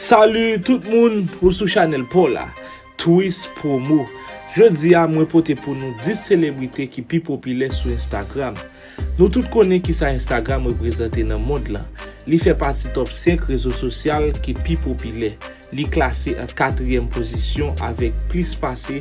Salut tout moun ou sou chanel paw la Twis promo Jodi a mwen pote pou nou 10 selebrite ki pi popilè sou Instagram Nou tout konnen kisa Instagram reprezante nan mond lan Li fè pati top 5 rezo sosyal ki pi popilè Li klase an katriyèm pozisyon avèk plis pase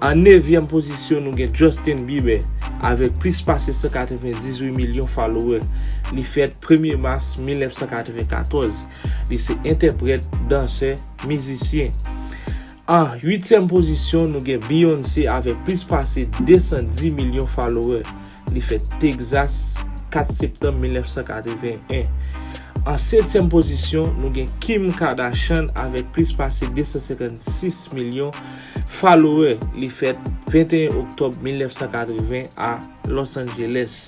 An nevyèm pozisyon nou gen Justin Bieber avèk plis pase 198 milyon falowè. Li fèt premye mas 1994. Li se entèprèt, dansè, mizisyen. An uityèm pozisyon nou gen Beyoncé avèk plis pase 210 milyon falowè. Li fèt Texas, 4 septanm 1981. An setyèm pozisyon, nou gen Kim Kardashian avèk plis pase 256 milyon falowè. Li fèt 21 oktòb 1980 a Los Angeles.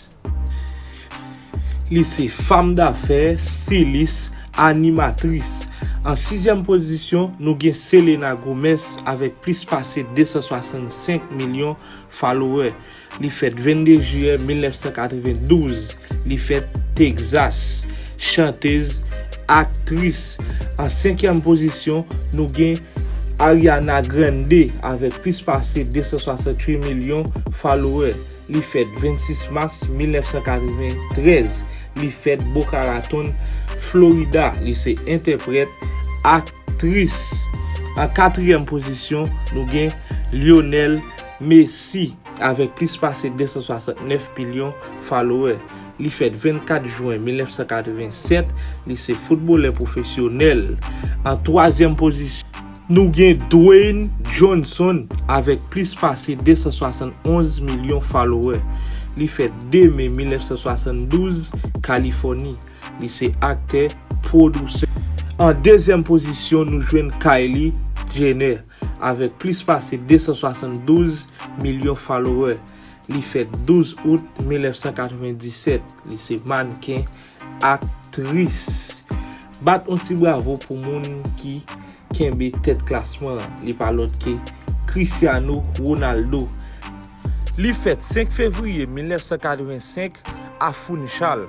Li se fanm dafè, stilis, animatris. An sizyèm pozisyon, nou gen Selena Gomez avèk plis pase 265 milyon falowè. Li fèt 22 jiyè 1992. Li fèt Texas. Chantez, aktris. An senkyèm pozisyon, nou gen Ariana Grande avèk plis pase 268 milyon falowè. Li fèt 26 mas 1993. Li fèt Boca Raton, Florida. Li se entèprèt, aktris. An katriyèm pozisyon, nou gen Lionel. Messi, avèk plis pase 269 milyon falowè, li fèt 24 jwen 1987, li se foutbolè pwofesyonèl. An twazyèm pozisyon, nou gen Dwayne Johnson avèk plis pase 271 milyon falowè, li fèt 2 me 1972, Kalifòni, li se aktè, pwodousè. An dezyèm pozisyon nou jwenn Kylie Jenner, Avèk plis pase 272 milyon followè, li fèt 12 out 1997. Li se mannken, aktris. Bat on ti bravo pou moun ki kenbe tèt klasman an. Li pa lòt ke Cristiano Ronaldo. Li fèt 5 fevriye 1985 a Funchal.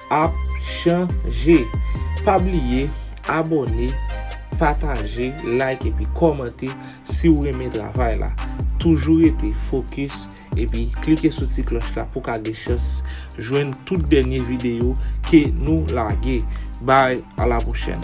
ap chanje pa bliye abone pataje like epi kòmante si ou renmen travay la toujou rete fokis epi klike sou ti klòch la pou ka gen chans jwenn tout dènye videyo ke nou lage bay ala pwochèn.